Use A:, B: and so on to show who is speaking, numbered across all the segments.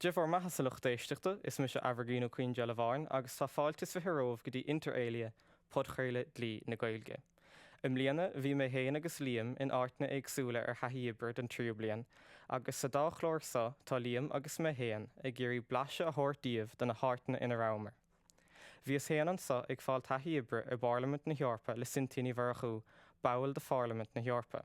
A: Dia bhur mbeatha sa lucht éisteachta, is mise Aimhirgín Ó Caoindealbháin agus tá fáilte is fiche romhaibh go dtí inter alia, podchraoladh Dlí na Gaeilge. I mbliana, bhí mé féin agus Liam in áiteanna éagsúla ar thaithí oibre don tríú bliain agus sa dá chlár so tá Liam agus mé féin ag iarraidh blaiseadh a thabhairt daoibh de na háiteanna ina rabhamar. Bhíos féin anso ag fáil taithí oibre i bPairlimint na hEorpa le Cynthia Ní Mhurchú, ball de Phairlimint na hEorpa.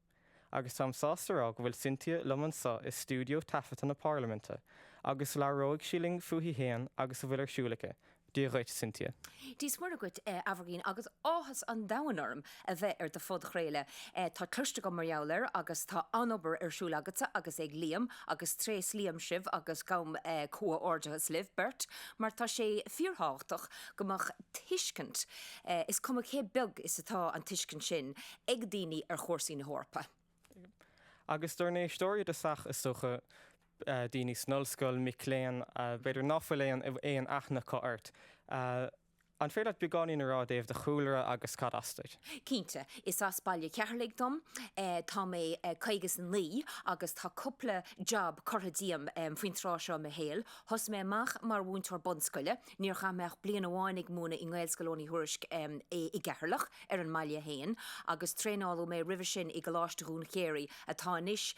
A: Agus táim sásta a rá go bhfuil Cynthia liom anseo i stiúideo taifeadta na Parlaiminte, agus labhróidh sí linn fúithi féin agus a bhfuil ar siúl aici. Dia dhuit, Cynthia. Dia 's Muire dhuit,
B: a Aimhirgín, agus áthas an domhain orm a bheith ar do phodchraoladh. Tá cloiste agam mar gheall air, agus tá an-obair ar siúl agatsa agus ag Liam, agus tréaslaím libh agus gabhaim comhghairdeachas libh beirt, mar tá sé fíorthábhachtach go mbeadh tuiscint, is cuma cé beag is atá an tuiscint sin, ag daoine ar chúrsaí na hEorpa.
A: Agus dár n-éisteoirí d'easca is dócha daoine san ollscoil, mic léinn, b'fhéidir ná fuil aon aithne acu ort. An féidir leat beagáinín a rá i dtaobh do chúlra agus cad as duit? Cinnte.
B: Is as Baile Cheatharlaigh dom. Tá mé caoga is a naoi agus tá cúpla job curtha díom faoin tráth seo i mo shaol. Thosaigh mé amach mar mhúinteoir bunscoile, níor chaith mé ach bliain amháin ag múineadh i nGaelscoil Eoghain Uí Thuairisc i gCeatharlach, ar an mbaile féin agus traenáladh mé roimhe sin i gColáiste Dhún Chéirí, atá anois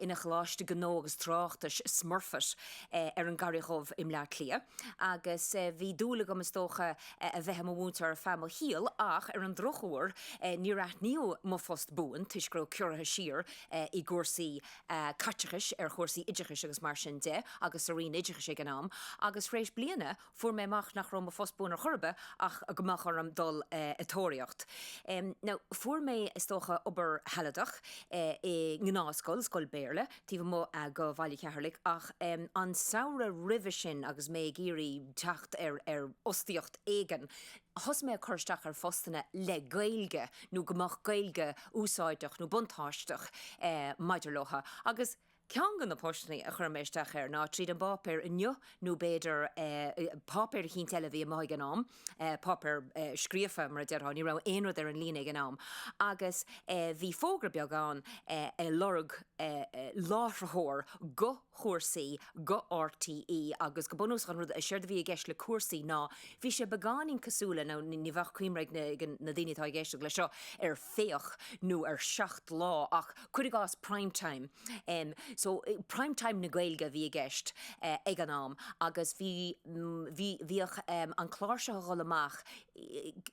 B: ina Choláiste Gnó agus Tráchtais, Smurfit, ar an gCarraig Dhubh i mBleá Cliath agus bhí dúil agam is dócha a bheith i mo mhúinteoir ar feadh mo shaoil ach ar an drochuair níor aithníodh mo phost buan toisc go raibh ciorruithe siar i gcúrsaí caiteachais ar chúrsaí oideachais agus mar sin de agus sa Roinn Oideachais ag an am agus tar éis bliana Fuair mé amach nach raibh mo phost buan ar chor ar bith ach go mbeadh orm dul ag tóraíocht. Now, fuair mé, is dócha, obair shealadach i ngnáthscoil, scoil Béarla, taobh amuigh de Bhaile Cheatharlaigh ach an samhradh roimhe sin agus mé ag iarraidh teacht ar, ar fhostaíocht éigin, thosaigh mé ag cur isteach ar phostanna le Gaeilge nó go mbeadh Gaeilge úsáideach nó buntáisteach maidir leo agus. Ceann de na postanna a chuir mé isteach air ná tríd an bpáipéar Inniu nó b'fhéidir páipéar eicínt eile a bhí amuigh ag an am, páipéar scríofa mar a déarfá, ní raibh aon rud ar an líne ag an am, agus bhí fógra beag ann ag lorg láithritheoir go Cúrsaí go RTÉ agus go bunúsach an rud, séard a bhí i gceist le Cúrsaí ná bhí sé beagáinín cosúil le, nó ní bheadh cuimhne ag na daoine atá ag éisteacht leis seo ar Féach nó ar Seacht Lá ach, Cuir i gcás Prime Time. So, Prime Time na Gaeilge a bhí i gceist ag an am agus bhí, bhí, bhíodh an clár seo a dhul amach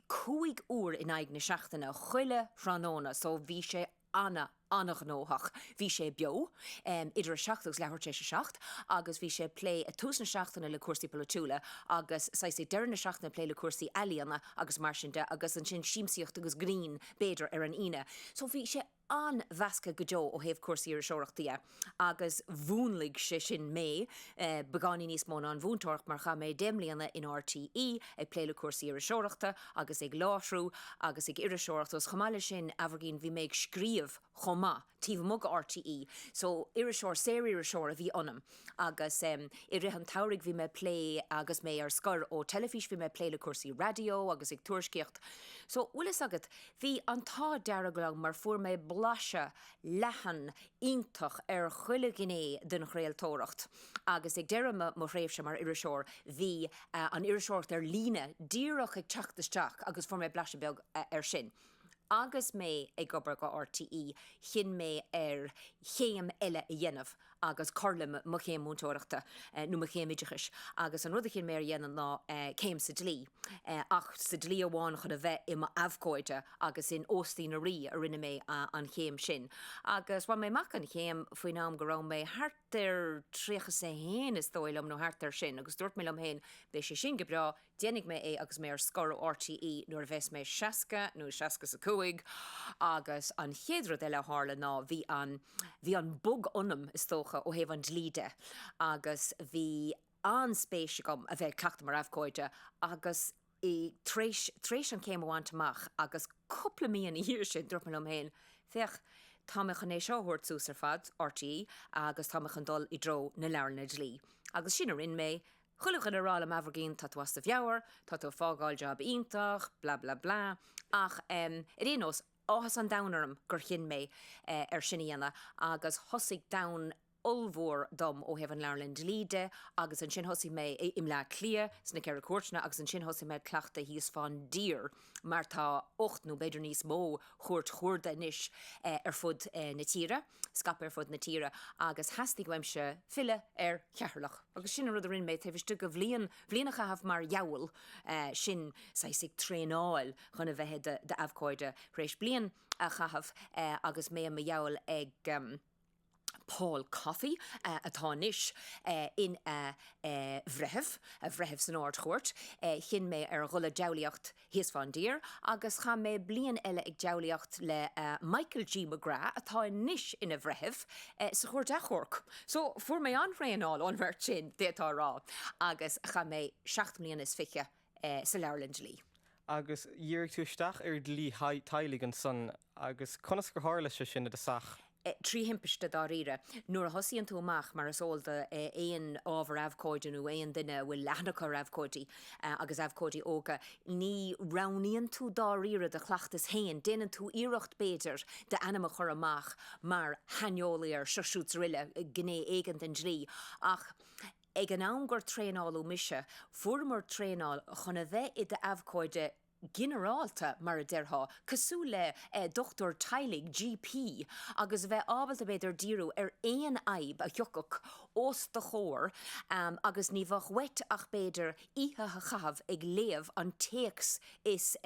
B: cúig uair in aghaidh na seachtaine, chuile thráthnóna, so bhí sé ana, ana-ghnóthach. Bhí sé beo idir a seacht agus leathuair tar éis a seacht agus bhí sé ag plé ag tús na seachtaine le cúrsaí polaitiúla agus saghas ag deireadh na seachtaine ag plé le cúrsaí ealaíona agus mar sin de agus ansin siamsaíocht agus grinn b'fhéidir ar an Aoine. So bhí sé an-mheasctha go deo ó thaobh cúrsaí iriseoireachta dhe agus mhúnlaigh sé sin mé beagáinín níos mó ná an mhúinteoireacht mar chaith mé deich mbliana in RTÉ ag plé le cúrsaí iriseoireachta agus ag láithriú agus ag iriseoireacht agus chomh maith leis sin, Aimhirgín, bhí mé ag scríobh chomh maith taobh amuigh de RTÉ so iriseoir, saoririseoir a bhí ionam. Agus i rith an tsamhraidh bhí mé ag plé, agus mé ar scor ó teilifís, bhí mé ag plé le cúrsaí raidió agus ag tuairiscíocht. So, bhfuil fhios agat, bhí an t-ádh dearg liom mar fuair mé blaiseadh leathan, iontach ar chuile ghné den chraoltóireacht. Agus ag deireadh mo mo thréimhse mar iriseoir bhí an iriseoireacht ar líne díreach ag teacht isteach agus fuair mé blaiseadh beag ar sin. Agus mé ag obair do RTÉ, chinn mé ar chéim eile a dhéanamh agus cur le mo chéim múinteoireachta, nó mo chéim oideachais. Agus an rud a chinn mé ar dhéanamh ná céim sa dlí, ach sa dlí amháin, chun a bheith i m'abhcóide. Agus in Óstaí na Rí a rinne mé an chéim sin. Agus bhain mé amach an chéim faoin am go raibh mé thart ar tríocha 's a haon, is dóigh liom, nó thart ar sin. Agus dúirt mé liom féin, beidh sé sin go breá, Déanfaidh mé é agus mé ar scor ó RTÉ nuair a bheas mé seasca nó seasca is a cúig agus an chéad rud eile a tharla ná bhí an, bhí an bug ionam is dócha ó thaobh an dlí de agus bhí an-spéis agam a bheith ag cleachtadh mar abhcóide agus i, tar éis, tar éis an céim a bhaint amach agus cúpla mí ina dhiaidh sin dúirt mé liom féin, féach, tá mé chun é seo a thabhairt suas ar fad, RTÉ, agus tá mé chun dul i dtreo na leabharlanna dlí. Agus sin a rinne mé Chuile dhuine ag rá liom Aimhirgín tá tú as do mheabhair, tá tú ag fágáil job iontach, blah blah blah. Ach em ar aon nós, áthas an domhain orm gur chinn mé ar sin a dhéanamh agus thosaigh domhan ollmhór dom ó thaobh an Leabharlann Dlí de agus ansin thosaigh mé i mBleá Cliath sna Ceithre Cúirteanna agus ansin thosaigh mé ag cleachtadh thíos fán dtír mar tá ocht nó b'fhéidir níos mó Chúirt Chuarda anois ar fud na tíre. scaip ar fud na tíre agus theastaigh uaimse filleadh ar Cheatharlach agus sin an rud a rinne mé taobh istigh de bhliain, bhliain a chaitheamh mar dhiabhal, sin saghas ag traenáil chun a bheith i d'abhcóide tar éis bliain a chaitheamh agus mé i mo dhiabhal ag Paul Coffey atá anois ina bhreitheamh, bhreitheamh san Ard-Chúirt. Chinn mé ar dhul ag diabhlaíocht. thíos fán dtír agus chaith mé bliain eile ag deabhlaíocht le Michael G. McGrath, atá anois ina bhreitheamh, sa Chúirt Achomhairc. So, fuair mé an-thraenáil ón mbeirt sin, d'fhéadfá a rá, agus chaith mé seacht mbliana is fiche sa Leabharlann Dlí. Agus
A: dhírigh tú isteach ar dhlí teaghlaigh ansan, agus conas gur tharla sé sin i do shaol? trí thimpiste
B: dáiríre. Nuair a thosaíonn tú amach, mar is eol d'aon ábhar abhcóide nó aon duine a bhfuil aithne acu ar abhcóidí agus abhcóidí óga, ní roghnaíonn tú dáiríre do chleachtas féin. Déanann tú iarracht, b'fhéidir, d'ainm a chur amach mar shaineolaí ar seo siúd is uile gné éigin den dlí. Ach ag an am gur traenáladh mise, fuaireamar traenáil chun a bheith i d'abhcóide. ginearálta, mar a déarfá, cosúil le dochtúir teaghlaigh, GP, agus a bheith ábalta, b'fhéidir, díriú ar aon fhadhb a thiocfadh os do chomhair agus ní bheadh uait ach, b'fhéidir, oíche a chaitheamh ag léamh an téacs is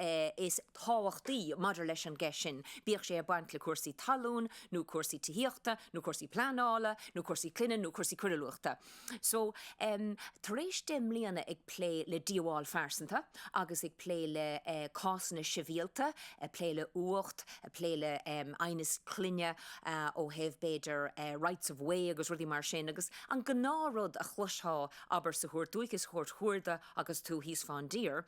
B: tábhachtaí maidir leis an gceist sin, bíodh sé ag baint le cúrsaí talún nó cúrsaí tithíochta nó cúrsaí pleanála nó cúrsaí clainne nó cúrsaí coiriúlachta. So, em, tar éis deich mbliana ag plé le díobháil phearsanta agus ag plé le, eh, cásanna sibhialta, ag plé le uacht, ag plé le, em, aighneas clainne, ah, ó thaobh b'fhéidir, eh, rights of way agus rudaí mar sin agus an gnáth rud a chloistheá, abair, sa chúirt dúiche, sa chúirt chuarda agus tú thíos fán dtír,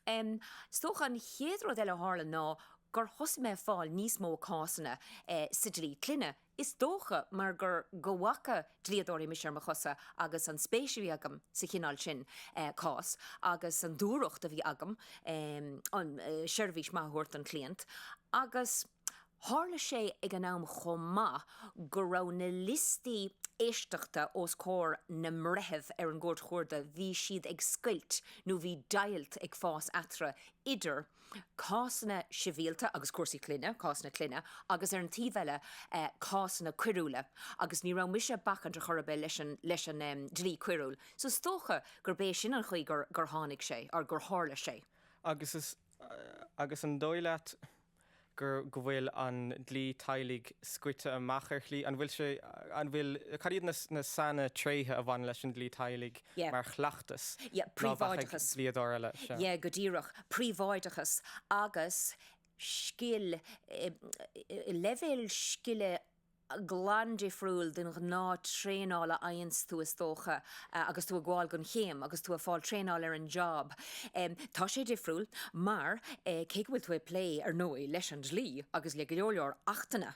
B: em, is dócha an chéad rud eile a tharla ná gur thosaigh mé ag fáil níos mó cásanna, eh, sa dlí clainne, Is dócha mar gur go bhfaca dlíodóirí mise ar mo chosa agus an spéis a bhí agam sa chineál sin cás agus an dúthracht a bhí agam seirbhís maith a thabhairt don chliant. Agus tharla sé ag an am chomh maith go raibh na liostaí éisteachta os comhair na mbreitheamh ar an gCúirt Chuarda, bhí siad ag scoilt nó bhí deighilt ag fás eatarthu idir, cásanna sibhialta agus cúrsaí clainne, cásanna clainne, agus ar an taobh eile, cásanna coiriúla, agus ní raibh mise ag bacaint ar chor ar bith leis an, leis an em, dlí coiriúil. So is dócha gurb é sin an chaoi gur, gur tháinig sé, nó gur tharla sé. Agus is,
A: agus an dóigh leat, go bhfuil an dlí teaghlaigh scoite amach ar shlí, an bhfuil sé, an bhfuil, cad iad na saintréithe a bhaineann leis an dlí teaghlaigh Yeah. mar chleachtas, Yeah, ná bheadh ag
B: príobháideachas. dlíodóir eile
A: seo? Yeah, go
B: díreach. Príobháideachas agus scil, eh, leibhéal scile glan difriúil den ghnáth traenáil a fhaigheanns tú is dócha agus tú ag gabháil gon chéim, agus tú ag fáil traenáil ar an job. Tá sé difriúil mar, cé go bhfuil tú ag plé, ar ndóigh, leis an dlí agus le go leor leor achtanna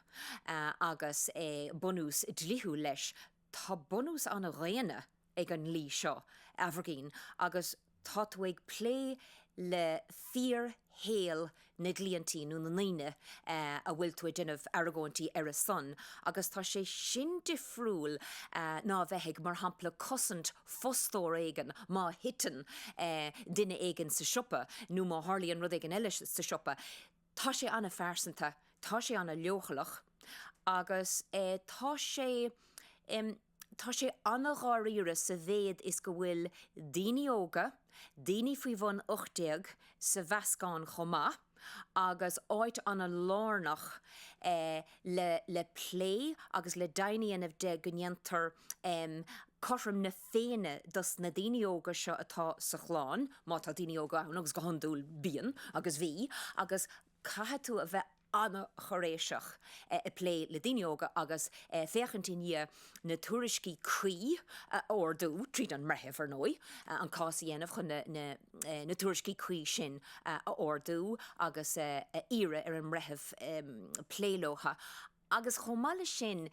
B: agus bunús dlíthiúil leis, tá bunús an-dhaonna ag an dlí seo, a Aimhirgín, agus tá tú ag plé le fíor-shaol na gcliaintí nó na ndaoine a bhfuil tú ag déanamh argóintí ar a son, agus tá sé sin difriúil ná a bheith ag, mar shampla, cosaint fostóra éigin má thiteann duine éigin sa siopa nó má tharlaíonn rud éigin eile sa siopa. Tá sé an-phearsanta, tá sé an-leochaileach agus tá sé. Tá sé an-dháiríre sa mhéad is go bhfuil daoine óga, daoine faoi bhun 18 sa mheascán chomh maith, agus áit an-lárnach le plé agus le deimhin a dhéanamh de go ndéantar cothrom na féinne dos na daoine óga seo atá sa chlann, má tá daoine óga ann agus go hiondúil bíonn agus bhí agus caithfidh tú a bheith. an-cháiréiseach ag plé le daoine óga agus féachaint i ndiaidh na tuairiscí cuí a ordú, tríd an mbreitheamh, ar ndóigh, an cás a dhéanamh chun na tuairiscí cuí sin a ordú agus a iarraidh ar an mbreitheamh plé leotha agus chomh maith leis sin,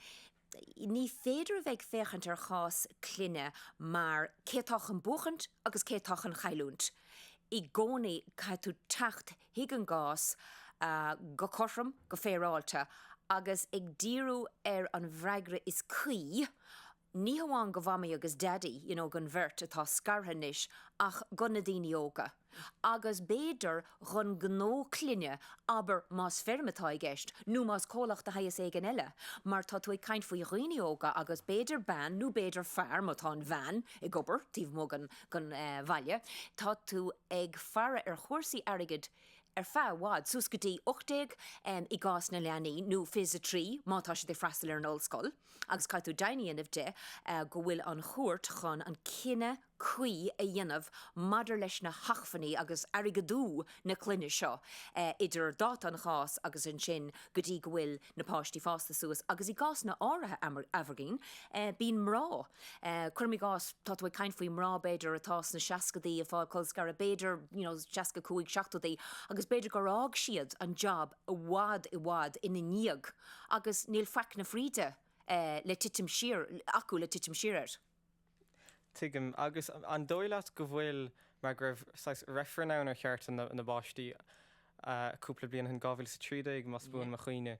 B: Ní féidir a bheith ag féachaint ar chás clainne mar cé atá chun buachaint agus cé atá chun cailliúint. I gcónaí caithfidh tú teacht chuig an gcás go cothrom, go féaráilte agus ag díriú ar an bhfreagra is cuí, ní hamháin go Mhamaí agus Daidí, you know, don bheirt atá scartha anois, ach go na daoine óga. Agus b'fhéidir dhon gnó clainne, abair más feirm atá i gceist, nó más comhlacht de shaghas éigin eile, mar tá tú ag caint faoi dhaoine óga agus b'fhéidir bean nó b'fhéidir fear, má tá an bhean ag obair taobh amuigh den bhaile, tá tú ag faire ar chúrsaí airgid ar feadh i bhfad, suas go dtí 18 i gcás na leanaí, nó 23 má tá siad ag freastal ar an ollscoil, agus caithfidh tú deimhin a dhéanamh de go bhfuil an chúirt chun an cinneadh. cuí a dhéanamh maidir leis na hacmhainní agus airgeadú na clainne seo idir dáta an chás agus ansin go dtí go bhfuil na páistí fásta suas agus i gcásanna áirithe a Aimhirgín bíonn mná, cuirim i gcás tá tú ag caint faoi mná b'fhéidir atá sna seascadaí ag fáil colscaradh b'fhéidir you know seasca cúig seachtódaí agus b'fhéidir gur fhág siad an job i bhfad i bhfad ina ndiaidh agus níl faic na fríde le titim siar acu le titim siar air.
A: Tuigim. Agus an dóigh leat go bhfuil, mar go raibh saghas reifreann ann ar chearta na bpáistí cúpla bliain ó shin, 2013 más buan mo chuimhne,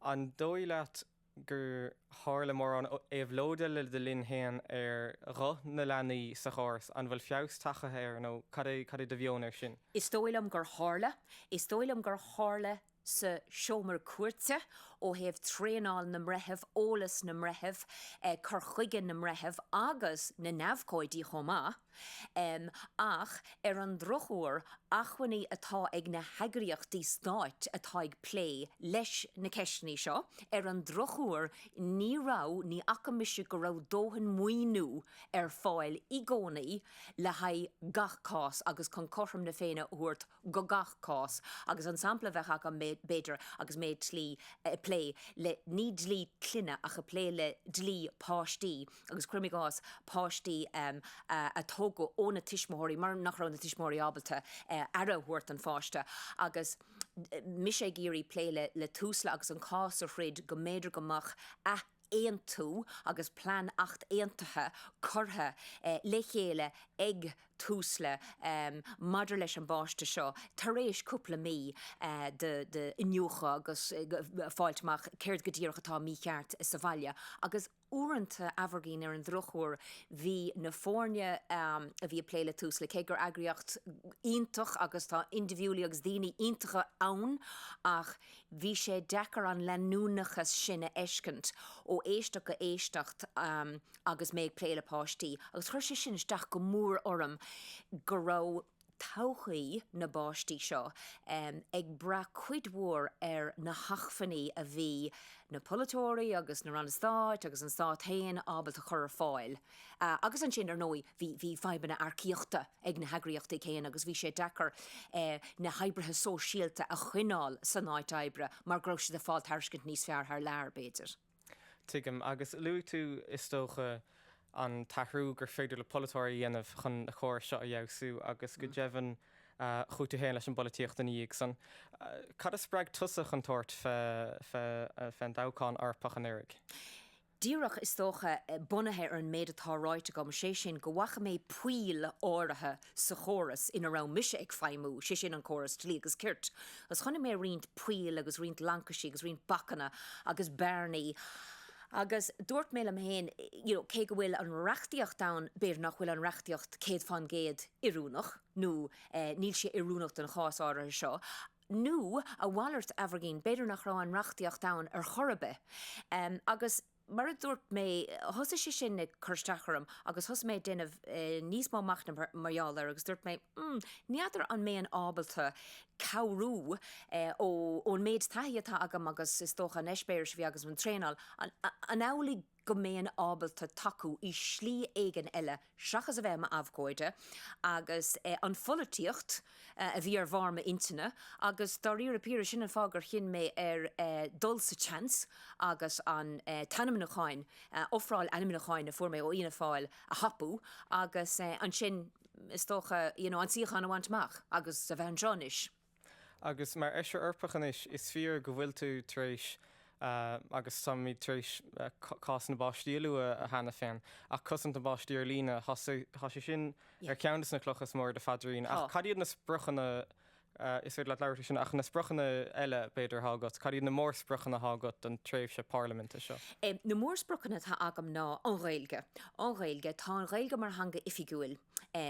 A: an dóigh leat gur tharla mórán éabhlóide le do linn féin ar ghuth na leanaí sa chóras, an bhfuil feabhas tagaithe air nó cad é do mheon ar sin? Is dóigh liom gur
B: tharla. Is dóigh liom gur tharla sa seomra cúirte, ó thaobh traenáil na mbreitheamh, eolas na mbreitheamh, cur chuige na mbreitheamh agus na n-abhcóidí chomh maith, ach ar an drochuair acmhainní atá ag na heagraíochtaí stáit atá ag plé leis na ceisteanna seo, ar an drochuair ní raibh, ní fhaca mise go raibh dóthain maoiniú ar fáil i gcónaí le haghaidh gach cás agus chun cothrom na Féinne a thabhairt go gach cás agus an sampla a bheadh ann b'fhéidir agus mé ag dlí ag plé le ní dlí clainne ach ag plé le dlí páistí agus cuirim i gcás páistí a tógadh ó na tuismitheoirí mar nach raibh na tuismitheoirí ábalta aire a thabhairt don pháiste agus mise ag iarraidh plé le le Tusla agus an cás a throid go mb'fhéidir go mbeadh ath aontú agus plean athaontaithe curtha le chéile ag Tusla maidir leis an bpáiste seo tar éis cúpla mí d'iniúchadh agus fáil amach céard go díreach atá mícheart sa bhaile agus uaireanta, Aimhirgin ar an drochuair, bhí na foirne a bhí ag plé le Tusla, cé gur eagraíocht iontach agus tá indibhidiúlaigh agus daoine iontacha ann ach. Bhí sé deacair an leanúnachas sin a fheiscint ó éisteacht go éisteacht agus mé ag plé le páistí, agus chuir sé sin isteach go mór orm go raibh todhchaí na bpáistí seo ag brath cuid mhór ar na hacmhainní a bhí na polaiteoirí agus na Ranna Stáit agus an Stát féin ábalta chur ar fáil. Agus ansin, ar ndóigh, bhí fadhbanna earcaíochta ag na heagraíochtaí céanna agus bhí sé deacair na hoibrithe sóisialta a choinneáil san áit oibre mar go raibh siad ag fáil tairiscint níos fearr thar lear, b'fhéidir. Tuigim.
A: Agus luaigh tú, is dócha, an t-athrú gur féidir le polaiteoirí a dhéanamh chun na córais seo a fheabhsú agus, go deimhin, chuaigh tú féin leis an bpolaitíocht ina dhiaidh san. Cad a spreag tusa chun tabhairt fé an dtoghchán Eorpach anuraidh?
B: Díreach, is dócha, bunaithe ar an méid atá ráite agam, sé sin, go bhfaca mé poill áirithe sa chóras ina raibh mise ag feidhmiú, sé sin, an córas Dlí agus Cirt, agus chonaic mé roinnt poill agus roinnt laincisí agus roinnt bacanna agus bearnaí agus dúirt mé liom féin, cé go bhfuil an reachtaíocht ann, b'fhéidir nach bhfuil an reachtaíocht céad fán gcéad oiriúnach nó níl sé oiriúnach don chás áirithe seo. nó a mhalairt Aimhirgin, b'fhéidir nach raibh an reachtaíocht ann ar chor ar bith. Agus mar a dúirt mé, thosaigh sé sin ag cur isteach orm agus thosaigh mé ag déanamh níos mó machnaimh mar gheall air agus dúirt mé, hmm, ní fheadar an mbeinn ábalta cabhrú ón méid taithí atá agam agus is dócha an eispéireas a bhí agus an traenáil, an amhlaidh go mbeinn ábalta tacú i slí éigin eile seachas a bheith i m'abhcóide, agus an pholaitíocht a bhí ar bharr m'intinne, agus dáiríre píre, sin an fáth gur chinn mé ar dhul sa tseans agus an t-ainmniúchán, ofráil ainmniúcháin a fuair mé ó Fhianna Fáil a thapú, agus ansin, is dócha, an suíochán a bhaint amach, agus a bheith anseo anois. Agus mar
A: Fheisire Eorpach anois, is fíor go bhfuil tú tar éis, agus táimid tar éis, cás na bpáistí a lua cheana féin, ach cosaint na bpáistí ar líne, tá sé sin ar cheann de na clocha is mó ar do phaidrín. Ach cad iad na spriocanna, is féidir leat labhairt faoi sin, ach na spriocanna eile, b'fhéidir, atá agat? Cad iad na mórspriocanna atá agat don tréimhse parlaiminte seo? Na mórspriocanna
B: atá agam ná an Ghaeilge. An Ghaeilge. Tá an Ghaeilge mar theanga oifigiúil.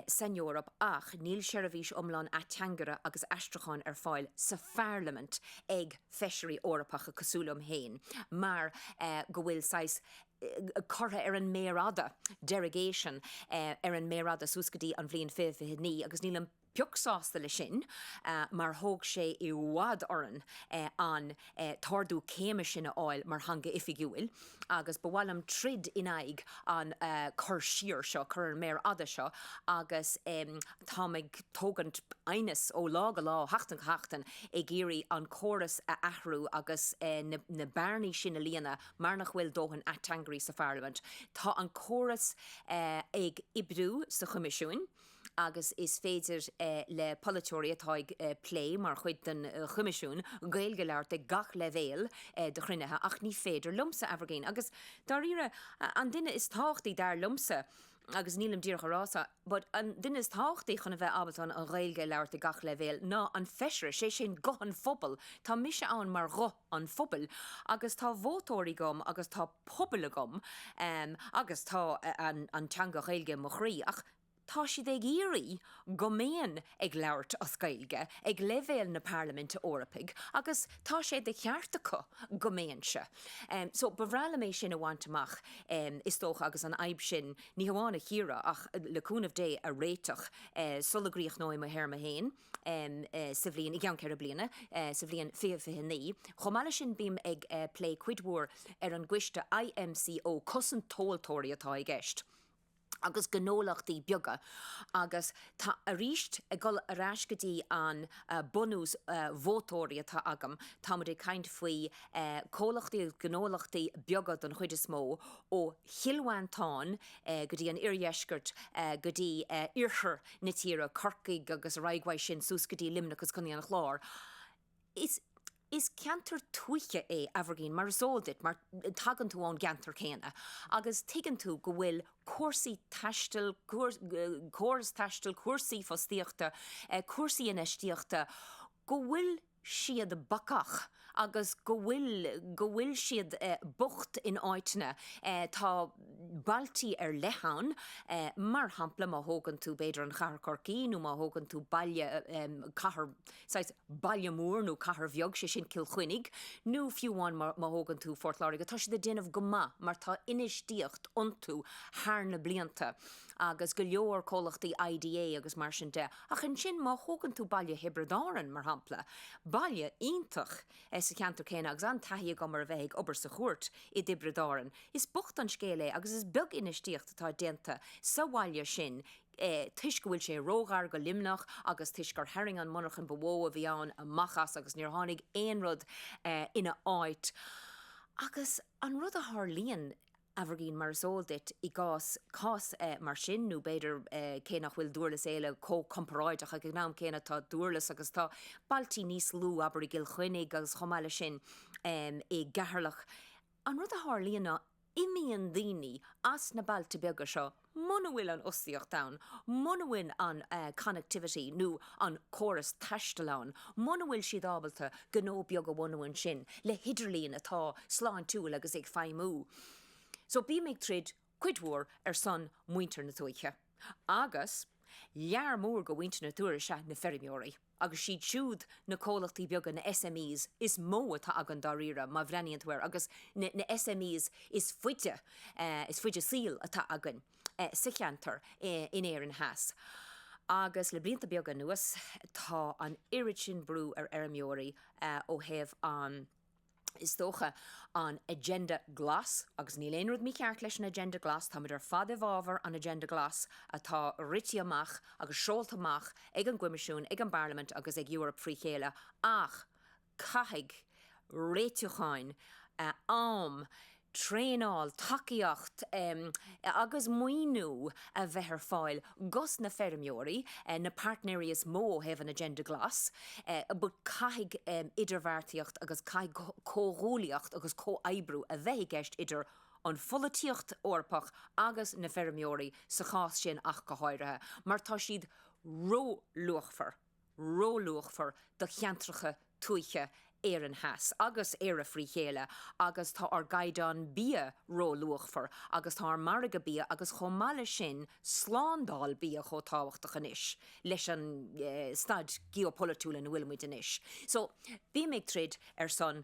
B: san Eoraip ach níl seirbhís iomlán ateangaire agus aistriúcháin ar fáil sa Pharlaimint ag Feisirí Eorpacha cosúil liom féin mar go bhfuil saghas curtha ar an méar fhada, derogation, ar an méar fhada suas go dtí an bhliain 2029 agus nílim pioc sásta leis sin mar thóg sé i bhfad orainn an. t-ardú céime sin a fháil mar theanga oifigiúil agus ba mhaith liom troid in aghaidh an cur siar seo, cur ar an méar fhada seo agus táim ag tógaint aighneas ó lá go lá, ó sheachtain go seachtain ag iarraidh an córas a athrú agus na bearnaí sin a líonadh mar nach bhfuil dóthain ateangairí sa Pharlaimint. Tá an córas ag oibriú sa Choimisiún. agus is féidir le polaiteoirí atá ag plé mar chuid den Choimisiún Gaeilge labhairt ag gach leibhéal de chruinnithe, ach ní féidir liomsa, Aimhirgín, agus dáiríre, an duine is tábhachtaí, dar liomsa, agus nílim díreach a rá seo, but an duine is tábhachtaí chun a bheith ábalta an Ghaeilge a labhairt ag gach leibhéal ná an Feisire, sé sin guth an phobail. Tá mise ann mar ghuth. an phobail agus tá vótóirí agam agus tá pobal agam agus tá an teanga Ghaeilge i mo chroí ach tá siad ag iarraidh go mbeinn ag labhairt as Gaeilge ag leibhéal na Parlaiminte Eorpaigh agus tá sé de cheart acu go mbeinnse so ba bhreá liom é sin a bhaint amach is dócha agus an fhadhb sin ní hamháin a chíoradh ach le cúnamh Dé a réiteach sula gcríochnóidh mo théarma féin. sa bhliain, i gceann ceithre bliana, sa bhliain 2029. Chomh maith leis sin, bím ag plé cuid mhór ar an gcoiste IMCO, cosaint tomhaltóirí atá i gceist, agus gnólachtaí beaga, agus tá, arís, ag dul ar ais go dtí an bunús vótóirí atá agam, táimid ag caint faoi comhlachtaí, gnólachtaí beaga don chuid is mó, ó Chill Mhantáin go dtí an iardheisceairt, go dtí iarthar na tíre, Corcaigh agus ar aghaidh uaidh sin suas go dtí Luimneach agus Contae an Chláir. Is is ceantar tuaithe é Aimhirgin mar is eol duit mar tagann tú ón gceantar céanna agus tuigeann tú go bhfuil cúrsaí taistil, córas taistil, cúrsaí fostaíochta, cúrsaí infheistíochta, go bhfuil siad bacach agus go bhfuil go bhfuil siad bocht in áiteanna. Tá bailtí ar leith ann, mar shampla, má thógann tú, b'fhéidir, an chathair Corcaí nó má thógann tú baile, cathair, saghas baile mór nó cathair bheag, sé sin Cill Chainnigh, nó fiú amháin má má thógann tú Port Láirge, tá siad ag déanamh go maith mar tá infheistíocht iontu thar na blianta agus go leor comhlachtaí IDA agus mar sin de. Ach ansin, má thógann tú baile Thiobraid Árann, mar shampla, baile iontach sa cheantar céanna, agus an-taithí agam ar a bheith ag obair sa chúirt i dTiobraid Árann, is bocht an scéal é agus is beag infheistíocht atá déanta sa bhaile sin toisc go bhfuil sé róghar go Luimneach agus toisc gur tharraing an mhonarcha ba mhó a bhí ann amach as agus níor tháinig aon rud ina áit. Agus an rud a tharlaíonn. Aimhirgin, mar is eol duit, i gcás cás mar sin, nó b'fhéidir, cé nach bhfuil Dúrlas Éile chomh comparáideach, ag an am céanna tá Dúrlas agus tá bailtí níos lú, abair i gCill Chainnigh agus chomh maith leis sin i gCeatharlach, an rud a tharlaíonn ná, imíonn daoine as na bailte beaga seo, Muna bhfuil an fhostaíocht ann, muna bhfuil an connectivity nó an córas taistil ann, muna bhfuil siad ábalta gnó beag a bhunú ansin le hidirlíon atá sláintiúil agus ag feidhmiú. So bím ag troid cuid mhór ar son muintir na tuaithe. Agus lear mór de mhuintir na tuaithe is ea na feirmeoirí. agus siad siúd na comhlachtaí beaga, na SMEs, is mó atá againn dáiríre má bhreathnaíonn tú air, agus na SMEs is faide, is faide saoil atá againn sa cheantar in Éirinn theas. Agus le blianta beaga anuas tá an oiread sin brú ar fheirmeoirí ó thaobh an. is dócha, an Agenda Glas, agus níl aon rud mícheart leis an Agenda Glas, tá muid ar fad i bhfábhar an Agenda Glas atá rite amach agus seolta amach ag an gCoimisiún, ag an bParlaimint agus ag Eoraip frí chéile, ach caithfidh réitiúchán, am, traenáil, tacaíocht agus maoiniú a bheith ar fáil dhos na feirmeoirí, na pairtnéirí is mó ó thaobh an Agenda Glas, but caithfidh idirbheartaíocht agus caithfidh comhghuallaíocht agus comhoibriú a bheith i gceist idir an pholaitíocht Eorpach agus na feirmeoirí sa chás sin ach go háirithe, mar tá siad róluachmhar. róluachmhar do cheantracha tuaithe Éireann Theas agus Éire frí chéile agus tá ár gcaighdeán bia róluachmhar agus tá ár margadh bia agus chomh maith leis sin slándáil bia chomh tábhachtach anois leis an staid geopholaitiúil ina bhfuilimid anois. So bím ag troid ar son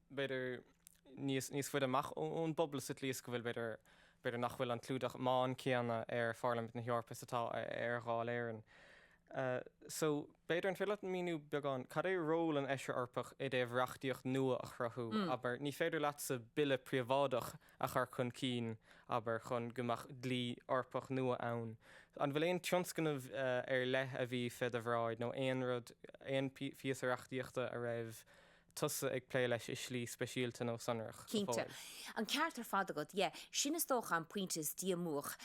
A: b'fhéidir, níos faide amach ón bpobal sa tslí is go bhfuil, b'fhéidir, b'fhéidir nach bhfuil an clúdach meáin céanna ar Pharlaimint na hEorpa is atá ar Dháil Éireann. So, b'fhéidir, an féidir leat míniú beagán, cad é ról an Fheisire Eorpaigh i dtaobh reachtaíocht nua a chruthú, abair, ní féidir leatsa bille príobháideach a chur chun cinn, abair, chun go mbeadh dlí Eorpach nua ann. An bhfuil aon tionscnamh ar leith a bhí fé do bhráid nó aon rud, aon phíosa reachtaíochta a raibh, tusa ag plé leis i slí speisialta nó sonrach? Cinnte.
B: An ceart ar fad agat. Yeah. Sin is dócha an pointe is díomách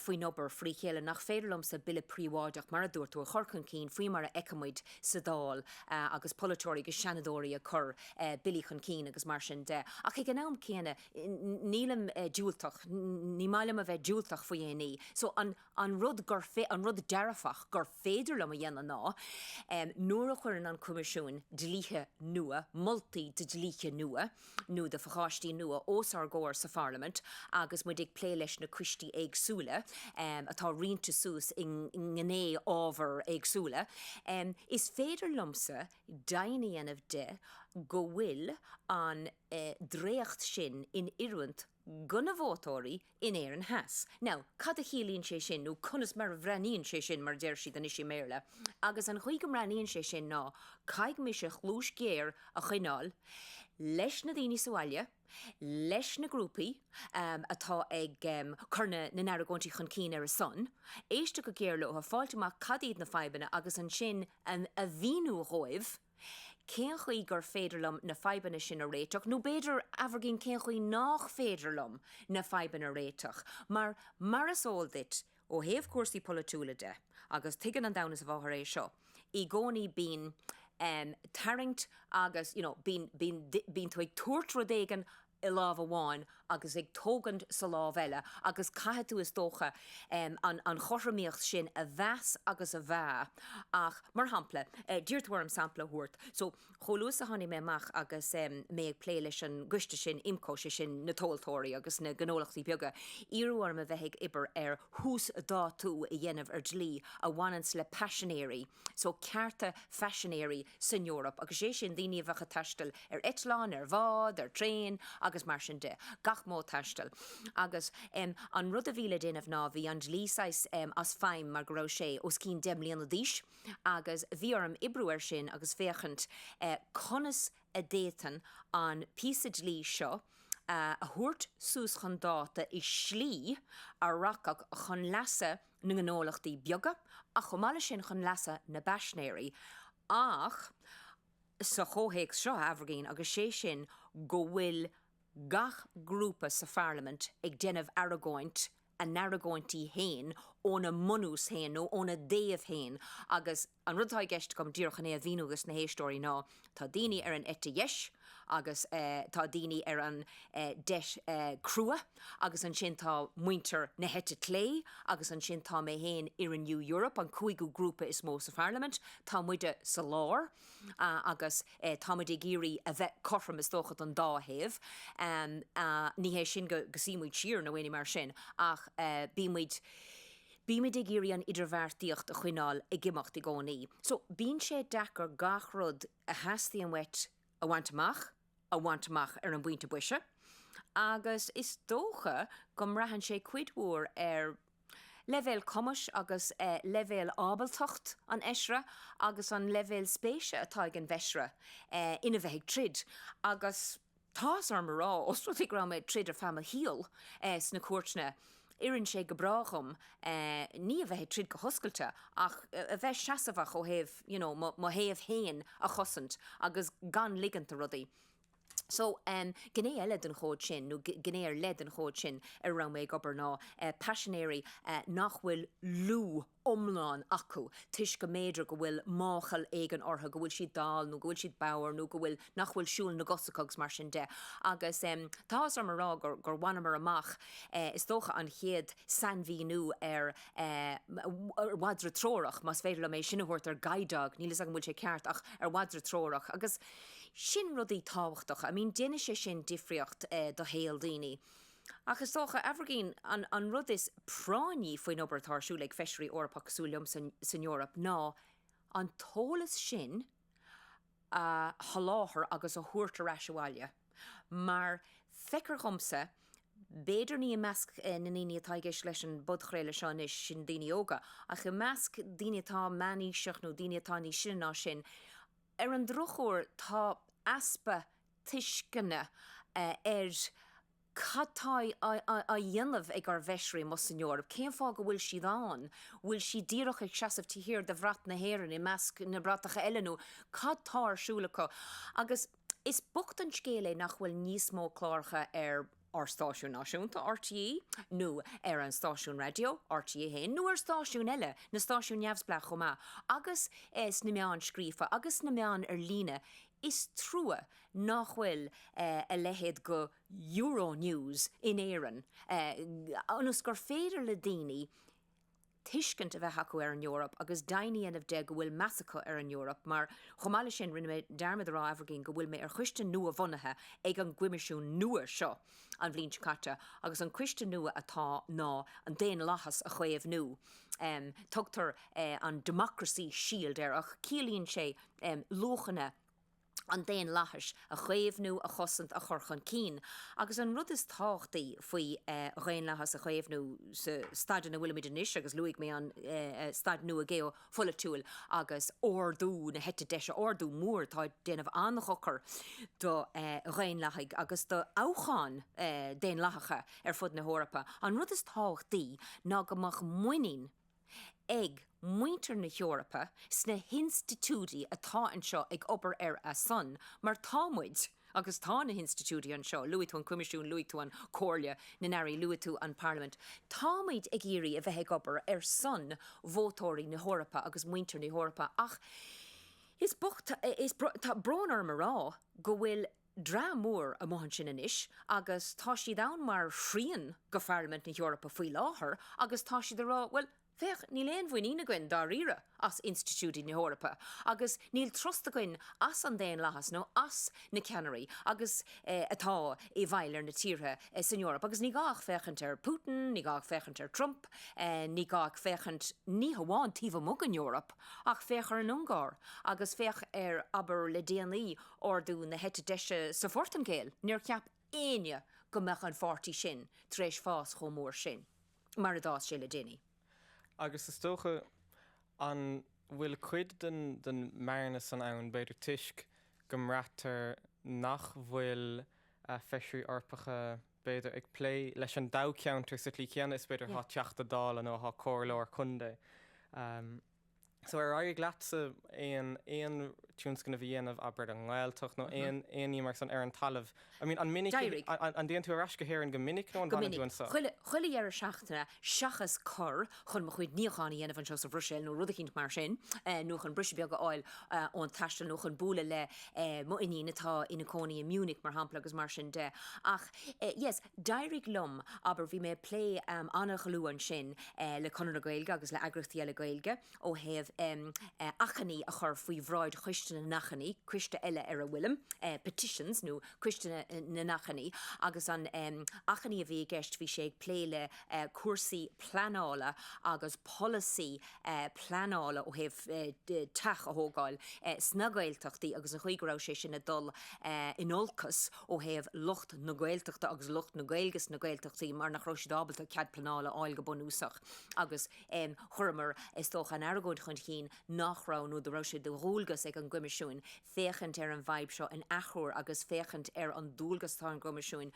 B: faoin obair frí chéile, nach féidir liomsa bille príobháideach, mar a dúirt tú, a chur chun cinn, faoi mar a fheicimid sa Dáil agus polaiteoirí agus seanadóirí ag cur billí chun cinn agus mar sin de. Ach ag an am céanna, nílim diúltach, ní maith liom a bheith diúltach faoi aon ní. So, An rud, an rud dearfach gur féidir liom a dhéanamh ná, nuair a chuireann an Coimisiún dlíthe nua, moltaí de dhlíthe nua nó de phacáistí nua os ár gcomhair sa Pharlaimint agus muid ag plé leis na coistí éagsúla atá roinnte suas i ngné ábhar éagsúla, is féidir liomsa deimhin a dhéanamh de go bhfuil an dréacht sin in oiriúint do na vótóirí in Éirinn Theas. Now, cad a chiallaíonn sé sin, nó conas mar a bhreathnaíonn sé sin, mar a deir siad anois i mBéarla. Agus an chaoi go mbreathnaíonn sé sin ná, caithfidh mise cluas ghéar a choinneáil leis na daoine sa bhaile, leis na grúpaí atá ag cur na na n-argóintí chun cinn ar a son, éisteacht go géar leo, fáilt amach cad iad na fadhbanna agus ansin a mhíniú dhóibh, Cén chaoi gur féidir liom na fadhbanna sin a réiteach? Nó b'fhéidir, Aimhirgin, cén chaoi nach féidir liom na fadhbanna a réiteach? Mar, mar is eol duit, ó thaobh cúrsaí polaitiúla de, agus tuigeann an domhan is a mháthair é seo, i gcónaí bíonn, em, tarraingt agus, you know, bíonn, bíonn, bíonn tú ag tabhairt rud éigin i lámh amháin agus ag tógaint sa lámh eile agus caithfidh tú is dócha an chothromaíocht sin a mheas agus a mheá ach mar shampla d'iarr tú orm sampla a thabhairt so chomh luath is a tháinig mé amach agus mé ag plé leis an gcoiste sin IMCO, 'sé sin na tomhaltóirí agus na gnólachtaí beaga iarradh orm a bheith ag oibir ar uasdátú a dhéanamh ar dlí a bhaineann le paisinéirí so, cearta phaisinéirí san Eoraip, agus sé sin daoine a bheadh ag taisteal ar eitleán, ar bhád, ar traein agus mar sin de, gach modh taistil. Agus em an rud a bhí le déanamh ná bhí an dlí saghas em as feidhm mar go raibh sé os cionn deich mbliana d'aois agus bhí orm oibriú air sin agus féachaint eh conas a d'fhéadfainn an píosa dlí seo a thabhairt suas chun dáta i slí a rachadh chun leasa eh na ngnólachtaí beaga ach chomh maith leis sin chun leasa na bpaisnéirí ach sa chomhthéacs seo Aimhirgín agus sé sin go bhfuil gach grúpa sa Pharlaimint ag déanamh argóint a n-argóintí fhéin óna mbunús fhéin nó óna dtaobh fhéin agus An rud atá i gceist agam díreach ná é a mhíniú dos na héisteoirí ná, tá daoine ar an eite dheis agus tá daoine ar an deis chrua agus ansin tá muintir na heite clé agus ansin tá mé féin i Renew Europe, an cúigiú grúpa is mó sa pharlaimint. Tá muide sa lár agus táimid ag iarraidh a bheith cothrom is dócha don dá thaobh. Ní hé sin go suímid siar nó aon ní mar sin ach bímid, Bímid ag iarraidh an idirbheartaíocht a choinneáil ag imeacht i gcónaí, so bíonn sé deacair gach rud a theastaíonn uait a bhaint amach, a bhaint amach ar an bpointe boise, agus is dócha go mbraitheann sé cuid mhór ar leibhéal cumais agus leibhéal ábaltacht an Fheisire agus an leibhéal spéise atá ag an bhFeisire ina bheith ag troid agus. Tá áthas orm a rá, ós rud é go raibh mé ag troid ar feadh mo shaol sna cúirteanna, oireann sé go breá dhom, ní a bheith ag troid go hoscailte, ach a bheith seasamhach ó thaobh, you know, mo thaobh fhéin a chosaint, agus gan ligint do rudaí. So, gné eile den chód sin, nó gné ar leith den chód sin ar a raibh mé ag obair ná paisinéirí nach bhfuil lúth, iomlán acu toisc go mb'fhéidir go bhfuil máchail éigin orthu, go bhfuil siad dall nó go bhfuil siad bodhar nó go bhfuil, nach bhfuil siúl na gcos acu agus mar sin de. Agus tá áthas orm a rá gur, gur bhaineamar amach, is dócha, an chéad sainmhíniú ar mhadra treorach, más féidir liom é sin a thabhairt ar guide dog, níl a fhios agam an bhfuil sé ceart ach ar mhadra treorach. Agus sin rudaí tábhachtacha, I mean déanann sé sin difríocht do shaol daoine. Ach is dócha, Aimhirgín, an rud is práinní faoin obair atá ar siúl ag Feisirí Eorpach cosúil liom san Eoraip ná an t-eolas sin a sholáthar agus a thabhairt ar ais abhaile, mar feictear dhomsa, b'fhéidir ní i measc na ndaoine atá i gceist leis an bpodchraoladh seo anois, sin daoine óga, ach i measc daoine atá meánaosta nó daoine atá níos sine ná sin, ar an drochuair, tá easpa tuisceana ar cad tá á dhéanamh ag ár bhfeisirí amuigh san Eoraip, cén fáth go bhfuil siad ann, bhfuil siad díreach ag seasamh taobh thiar de bhrat na hÉireann i measc na bratacha eile nó cad tá ar siúl acu? Agus is bocht an scéal é nach bhfuil níos mó cláracha ar. ar stáisiún náisiúnta RTÉ nó ar an stáisiún raidió, RTÉ 1, nó ar stáisiúin eile, na stáisiúin neamhspleách chomh maith, agus sna meáin scríofa agus sna meáin ar líne. Is trua nach bhfuil a leithéid de Euronews in Éirinn ionas gur féidir le daoine tuiscint a bheith acu ar an Eoraip agus deimhin a dhéanamh de go bhfuil meas acu ar an Eoraip, mar chomh maith leis sin, rinne mé dearmad a rá, Aimhirgin, go bhfuil mé ar choiste nua-bhunaithe ag an gCoimisiún nua seo an bhliain seo caite, agus an coiste nua atá ná an daonlathas a chaomhnú. Tugtar an Democracy Shield air, ach ciallaíonn sé luachanna. an daonlathais a chaomhnú, a chosaint, a chur chun cinn. Agus an rud is tábhachtaí faoi dhaonlathas a chaomhnú sa staid ina bhfuilimid anois, agus luaigh mé an staid nua geopholaitiúil agus ardú na heite deise, ardú mór atá ag déanamh an-dhochar do dhaonlathaithe agus do thoghcháin daonlathacha ar fud na hEorpa, an rud is tábhachtaí ná go mbeadh muinín ag muintir na hEorpa sna hinstitiúidí atá anseo ag obair ar a son, mar tá muid, agus tá na hinstitiúidí anseo, luaigh tú an Coimisiún, luaigh tú an Comhairle na nAirí, luaigh tú an Parlaimint, tá muid ag iarraidh a bheith ag obair ar son vótóirí na hEorpa agus muintir na hEorpa ach is bocht, tá brón orm a rá, go bhfuil dream mór amuigh ansin anois agus tá siad ann mar thrian de Pharlaimint na hEorpa faoi láthair agus tá siad ag rá, bhuel, féach, níl aon mhuinín againn dáiríre as institiúidí na hEorpa agus níl trust againn as an daonlathas nó as na ceannairí agus eh atá i bhfeighil ar na tíortha san Eoraip agus ní gá ach féachaint ar Putin, ní gá ach féachaint ar Trump, eh ní gá ach féachaint ní hamháin taobh amuigh den Eoraip ach féach ar an Ungáir agus féach ar, abair, le déanaí. ardú na heite deise sa Phortaingéil, níor cheap éinne go mbeadh an pháirtí sin tar éis fás chomh mór sin mar a d'fhás sé le déanaí. Agus
A: is dócha, an bhfuil cuid den mbearna san ann, b'fhéidir, toisc go mbraitear nach bhfuil feisirí Eorpacha, b'fhéidir, ag plé leis an dtoghcheantar sa tslí chéanna is, b'fhéidir, atá Teachta Dála nó atá Comhairleoir Contae? So ar éirigh leatsa aon, aon tionscnamh a dhéanamh, abair i nGaeltacht nó aon, aon ní mar san ar an talamh? I mean an minic, an dtéann tú ar ais
B: go
A: hÉirinn go minic nó an bhfanann tú anseo? Go minic, chuile, chuile dheireadh seachtaine
B: seachas cur chun mo chuid níocháin a dhéanamh anseo sa Bhruiséil nó rud eicínt mar sin nó chun briseadh beag a fháil ón taisteal nó chun bualadh le mo iníon atá ina cónaí i Munich mar shampla agus mar sin de ach yes, D'éirigh liom, abair, bhí mé ag plé an-dhlúth ansin le Conradh na Gaeilge agus le eagraíochtaí eile Gaeilge ó thaobh achainí a chur faoi bhráid Choiste na nAchainí, coiste eile ar a bhfuilim, Petitions nó Coiste na nAchainí, agus an achainí a bhí i gceist bhí sé ag plé le cúrsaí pleanála agus polasaí pleanála ó thaobh teach a thógáil sna Gaeltachtaí agus an chaoi go raibh sé sin ag dul in olcas ó thaobh lucht na Gaeltachta agus lucht na Gaeilge sna Gaeltachtaí mar nach raibh siad ábalta cead pleanála a fháil go bunúsach agus chuireamar is dócha an argóint chun chinn nach raibh nó go raibh sé de dhualgas ag an gCoimisiún féachaint ar an bhfadhb seo an athuair agus féachaint ar an dualgas atá ar an gCoimisiún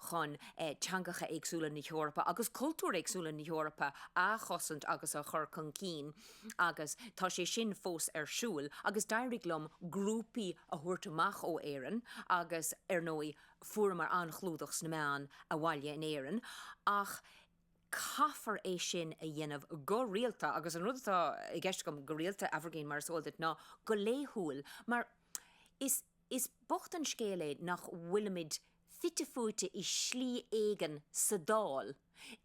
B: chun teangacha éagsúla na hEorpa agus cultúir éagsúla na hEorpa a chosaint agus a chur chun cinn. Agus tá sé sin fós ar siúl agus d'éirigh liom grúpaí a thabhairt amach ó Éirinn agus ar ndóigh fuaireamar an-chlúdach sna meáin abhaile in Éirinn ach caithfear é sin a dhéanamh go rialta agus an rud atá i gceist agam go rialta, Aimhirgín, mar is eol duit, ná go laethúil mar. Is bocht an scéal é nach bhfuilimid fite fuaite i slí éigin sa Dáil,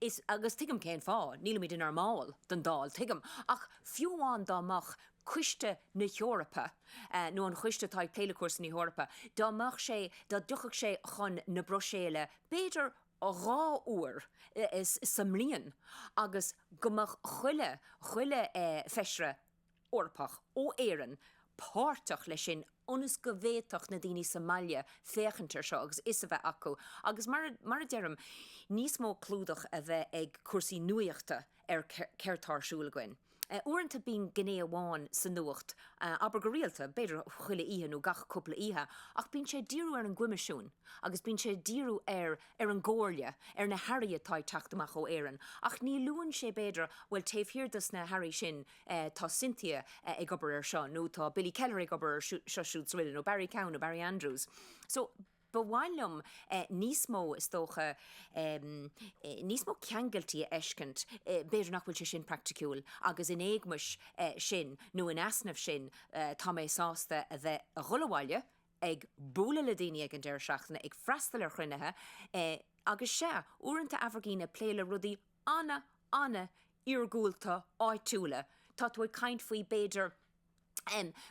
B: is, agus tuigim cén fáth, nílimid inár mball den Dáil, tuigim, ach fiú amháin dá mbeadh, Coiste na hEorpa, nó an choiste atá ag plé le cúrsaí na hEorpa, dá mbeadh sé, dá dtiocfadh sé chun na Bruiséile b'fhéidir dhá uair sa mbliain agus go mbeadh chuile, chuile feisire, Eorpach, ó Éirinn, páirteach leis sin ionas go bhféadfadh na daoine sa mbaile féachaint air seo agus fhios a bheith acu agus mar a, mar a deirim, níos mó clúdach a bheith ag cúrsaí nuaíochta ar céard tá ar siúl againn. Uaireanta bíonn gné amháin sa nuacht, abair go rialta, b'fhéidir chuile oíche nó gach cúpla oíche, ach bíonn sé ag díriú ar an gCoimisiún agus bíonn sé ag díriú ar, ar an gComhairle, ar na hairí atá ag teacht amach ó Éirinn ach ní luann sé b'fhéidir, bhuel taobh thiar des na hairí sin, tá Cynthia ag obair ar seo nó tá Billy Kelleher ag obair ar seo siúd is araile nó Barry Cowen nó Barry Andrews so ba mhaith liom níos mó is dócha níos mó ceangailtí a fheiscint b'fhéidir nach bhfuil sé sin praiticiúil agus in éagmais sin nó in easnamh sin tá mé sásta a bheith a dhul abhaile ag bualadh le daoine ag an deireadh seachtaine ag freastal ar chruinnithe agus sea uaireanta Aimhirgín ag plé le rudaí ana, ana iargúlta áitiúla. Tá tú ag caint faoi b'fhéidir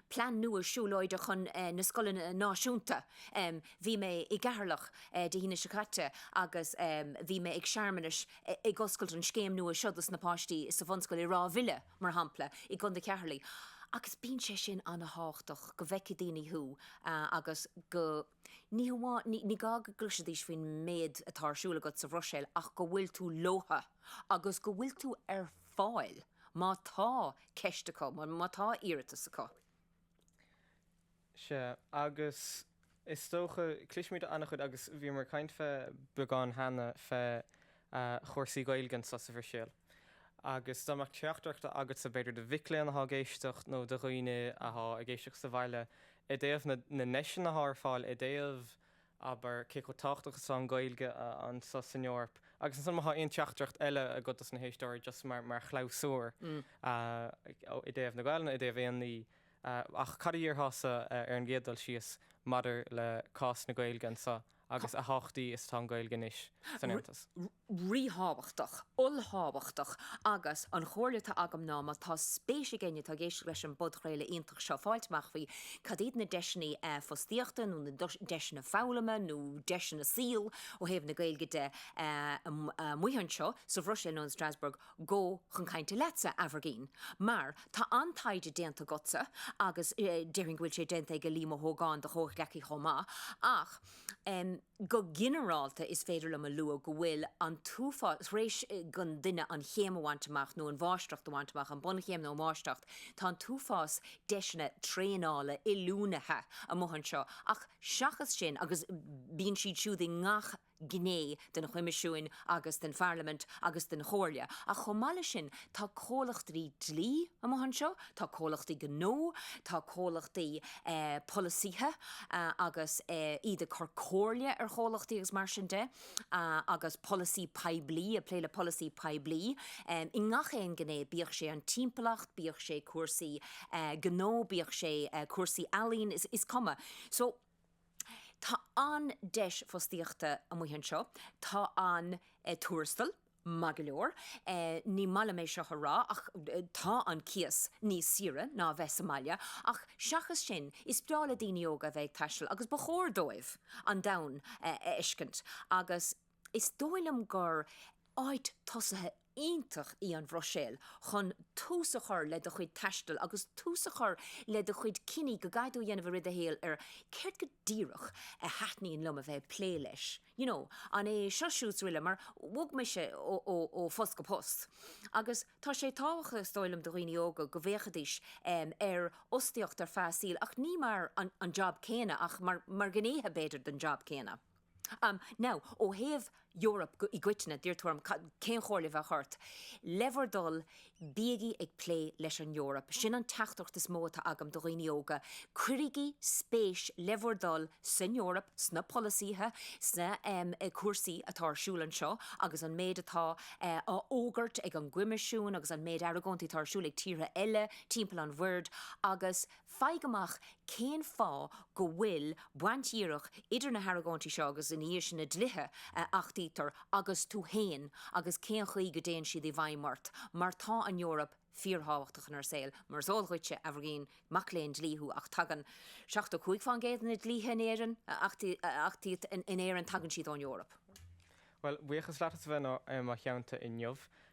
B: plean nua siúlóide chun eh na scoileanna náisiúnta. Em bhí mé i gCeatharlach eh Dé hAoine seo caite agus em bhí mé ag searmanas ag oscailt an scéim nua seo dos na páistí sa bhunscoil i Ráth Bhile mar shampla i gContae Cheatharlaigh agus bíonn sé sin ana thábhachtach go bhfeicfidh daoine thú ah agus go Ní hamháin, ní gá go gcloisfidís faoin méid atá ar siúl agat sa Bhruiséil ach go bhfuil tú leobhtha agus go bhfuil tú ar fáil má tá ceist acu, má tá iarratas acu. Sea,
A: agus is dócha, cloisimid an-chuid agus bhíomar ag caint fé beagán cheana fé chúrsaí Gaeilge anseo sa Bhruiséil. Agus dá mbeadh teachtaireacht agatsa, b'fhéidir, do mhic léinn atá ag éisteacht nó do dhaoine atá ag éisteacht sa bhaile i dtaobh na ndeiseanna atá ar fáil i dtaobh, abair, cé chomh tábhachtach is atá an Ghaeilge anseo san Eoraip. Agus ansan má thá aon teachtaireacht eile agat dos na héisteoirí, just mar chlabhsúr, i dtaobh na Gaelainne, i dtaobh aon ní, ach cad a dhéarfása ar an gcéad dul síos maidir le cás na Gaeilge anseo? agus a thábhachtaí is atá an Ghaeilge anois san Aontas.
B: ríthábhachtach, ollthábhachtach, agus an chomhairle atá agam ná, má tá spéis ag éinne atá ag éisteacht leis an bpodchraoladh iontach seo fáil amach faoi, cad iad na deiseanna fostaíochta nó na deiseanna foghlama nó deiseanna saoil ó thaobh na Gaeilge de amuigh anseo sa Bhruiséil nó in Strasbourg? Go chun cainte leatsa, Aimhirgín, mar tá an taighde déanta agatsa agus déarfainn go bhfuil sé déanta ag Liam Ó hÓgáin, do chomhghleacaí chomh maith, ach go ginearálta is féidir liom a lua go bhfuil an t-uafás, tar éis don duine an chéim a bhaint amach nó an mháistreacht a bhaint amach, an bunchéim nó an mháistreacht, tá an t-uafás deiseanna traenála, oiliúna amuigh anseo ach seachas sin, agus bíonn siad siúd i ngach. gné den Choimisiún agus den Pharlaimint agus den Chomhairle, ach chomh maith leis sin tá comhlachtaí dlí amuigh anseo, tá comhlachtaí gnó, tá comhlachtaí polasaithe agus iad ag cur comhairle ar chomhlachtaí agus mar sin de, agus polasaí poiblí, ag plé le polasaí poiblí i ngach aon ghné, bíodh sé an timpeallacht, bíodh sé cúrsaí gnó, bíodh sé cúrsaí ealaíon, is cuma. Tá an-deis fostaíochta amuigh anseo. Tá an tuarastal maith go leor, ní maith liom é seo a rá ach tá an cíos níos saoire ná a bheith sa mbaile, ach seachas sin, is breá le daoine óga a bheith ag taisteal agus ba chóir dóibh an domhan a fheiscint agus. Is dóigh liom gur áit tosaithe iontach í an Bhruiséil chun tús a chur le do chuid taistil agus tús a chur le do chuid cinní go gcaithfidh tú a dhéanamh i rith do shaoil ar céard go díreach a thaitníonn liom a bheith ag plé leis. You know, an é seo siúd 's uile mar bhog mise ó phost go post agus tá sé tábhachtach is dóigh liom do dhaoine óga go bhféachaidís ar fhostaíocht ar feadh a saoil ach ní mar an job céanna ach mar ghnéithe b'fhéidir den job céanna. Um now, ó thaobh Eoraip go, i gcoitinne, d'iarr tú orm cad, cén chomhairle a bheadh ort. Le bhur dtoil, bígí ag plé leis an Eoraip. Sin an teachtaireacht is mó atá agam do dhaoine óga. Cuirigí spéis, le bhur dtoil, san Eoraip, sna polasaithe, sna em cúrsaí atá ar siúl anseo agus an méid atá eh á fhógairt ag an gCoimisiún agus an méid argóintí atá ar siúl ag tíortha eile timpeall an bhoird agus Faigh amach cén fáth go bhfuil baint dhíreach idir na hargóintí seo agus, ina dhiaidh sin, na dlíthe a achtaítear agus tú féin agus cén chaoi go dtéann siad i bhfeidhm ort, mar tá an Eoraip fíorthábhachtach inár saol. Mar is eol dhuitse, Aimhirgín, mac léinn dlí thú ach tagann 75 fán gcéad de na dlíthe in Éirinn a achtaíodh in Éirinn, tagann siad ón Eoraip. Bhuel,
A: buíochas leat as a bheith i mo theannta inniu.